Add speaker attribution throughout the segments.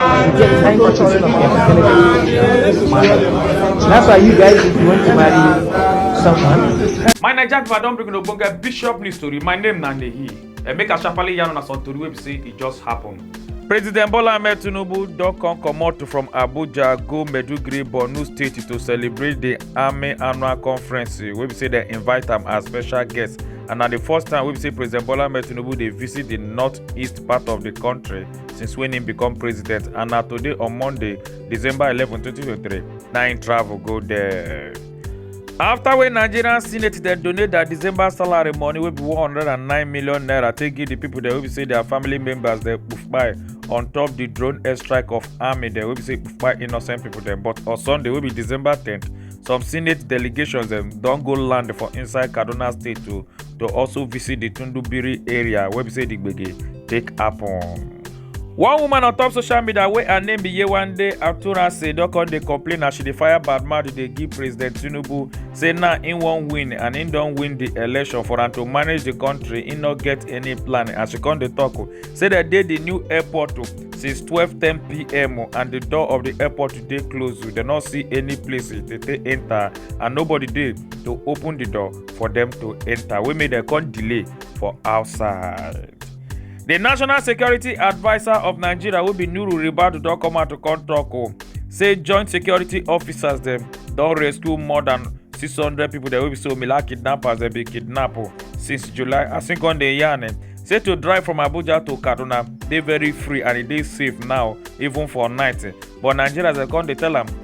Speaker 1: That's why you guys, if you want to marry someone. My Naija Viva
Speaker 2: don bring una ogbonge bishop news story. My name na Nehi. And make I sharply yarn una some tori wey be say e just happen. President Bola Ahmed Tinubu don come comot from Abuja go Maiduguri, Borno State to celebrate the Army Annual Conference wey be say dem invite am as special guest and na the first time wey be say President Bola Ahmed Tinubu dey visit the north-east part of the country. since when im become president and na today on monday december 11 2023 na im travel go there. after wey nigerian senate dem donate their december salary money wey be 109 million naira take give di pipo dem wey be say their family members dem kpai on top di drone airstrike of army dem wey be say kpai innocent pipo dem but on sunday wey be december 10th some senate delegations dem don go land for inside kaduna state to to also visit di tundubiri area wey be say di gbege take happen. one woman on top social media wey her name be yewande aturase don come dey complain as she dey fire bad mouth dey give president tinubu say now im wan win and im don win di election for am to manage di kontri im no get any plan as she come dey tok oh, say dem dey di new airport oh, since 12:10pm oh, and di door of di airport dey closed dem no see any place to take enta and nobody dey to open di door for dem to enta wey make dem come delay for outside. di national security adviser of nigeria wey be nuru ribadu don come out to come tok o say joint security officers dem don rescue more dan 600 pipo dem wey be say omila kidnappers dem bin kidnap o since july as im come dey yarn eh, say to drive from abuja to kaduna dey very free and e dey safe now even for night eh. but nigerians dem come dey tell am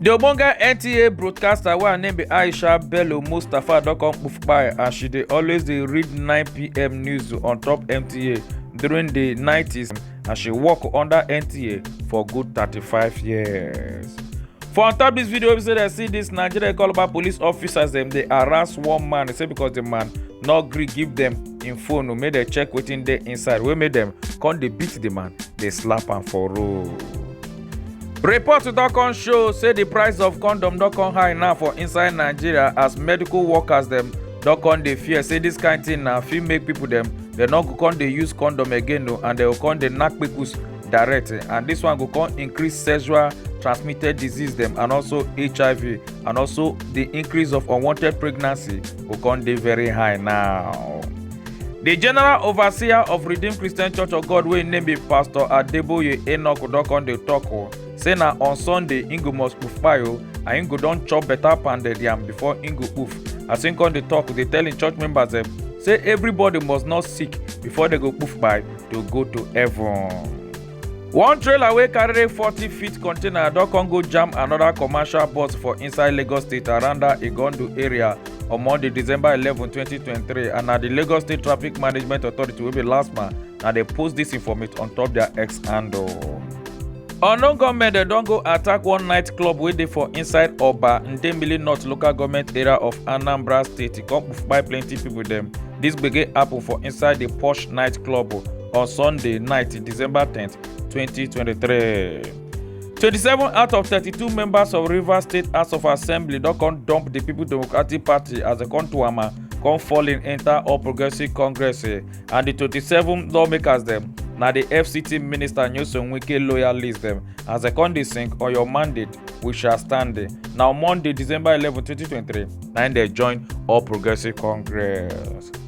Speaker 2: di ogbonge nta broadcaster wey her name be aisha bello mustapha don come kpoof kpai as she dey always dey read 9pm news on top nta during di 90s as she work under nta for good 35 years. for on top dis video we say dem see dis nigeria call about police officers dem dey harass one man say because di man no gree give dem im phone make dem check wetin dey inside wey make dem come dey beat di man dey slap am for road. Reports don come show say the price of condom don come high now for inside Nigeria as medical workers dem don come dey fear say this kind thing na fit make people dem dem no go come dey use condom again o and dem go come dey knack kpekus direct and this one go come increase sexual transmitted disease dem and also hiv and also the increase of unwanted pregnancy go come dey very high now. The general overseer of Redeemed Christian Church of God wey name be Pastor Adeboye Enoch Udokon dey talk o say na on Sunday im go must poof kpai o and im go don chop better pounded yam before im go poof. As im come dey talk, dey tell im church members dem say everybody must not sick before dem go poof kpai to go to heaven. one trailer wey carry forty feet container don come go jam another commercial bus for inside lagos state aranda igondu area on monday december eleven twenty twenty three and na di lagos state traffic management authority wey be lasma na dey post dis informate on top dia x handle. unknown gunmen dem don go attack one night club wey dey for inside oba ndemili north local goment area of anambra state e come kpai plenty pipo dem dis gbege happun for inside di posh night club on Sunday night, December 10th, 2023. 27 out of 32 members of Rivers State House of Assembly don come dump the People Democratic Party as dem come to ama come fall in enter All Progressives Congress eh, and the 27 lawmakers dem na the FCT minister Nyesom Wike loyalist dem as dem come dey sing on your mandate we shall stand eh. na on Monday December 11, 2023 na im dem join All Progressives Congress.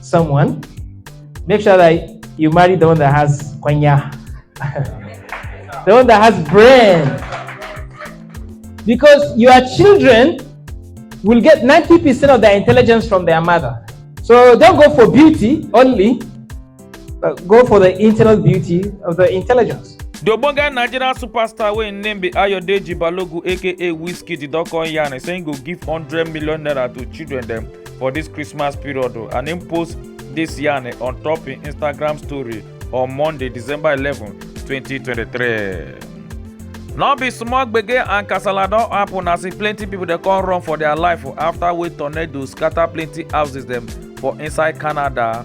Speaker 1: someone, make sure that you marry the one that has kwanya, the one that has brain. Because your children will get 90% of their intelligence from their mother. So don't go for beauty only, but go for the internal beauty of the intelligence. The Obonga
Speaker 2: Nigerian superstar wey im name be Ayodeji Balogun aka Wizkid don come yarn say im go give hundred million naira to children dem for this christmas period o and im post this yarn on top im instagram story on monday december 11 2023 no be small gbege and kasala don happen as e plenty pipo dey come run for dia life afta wey tornado scata plenty houses dem for inside canada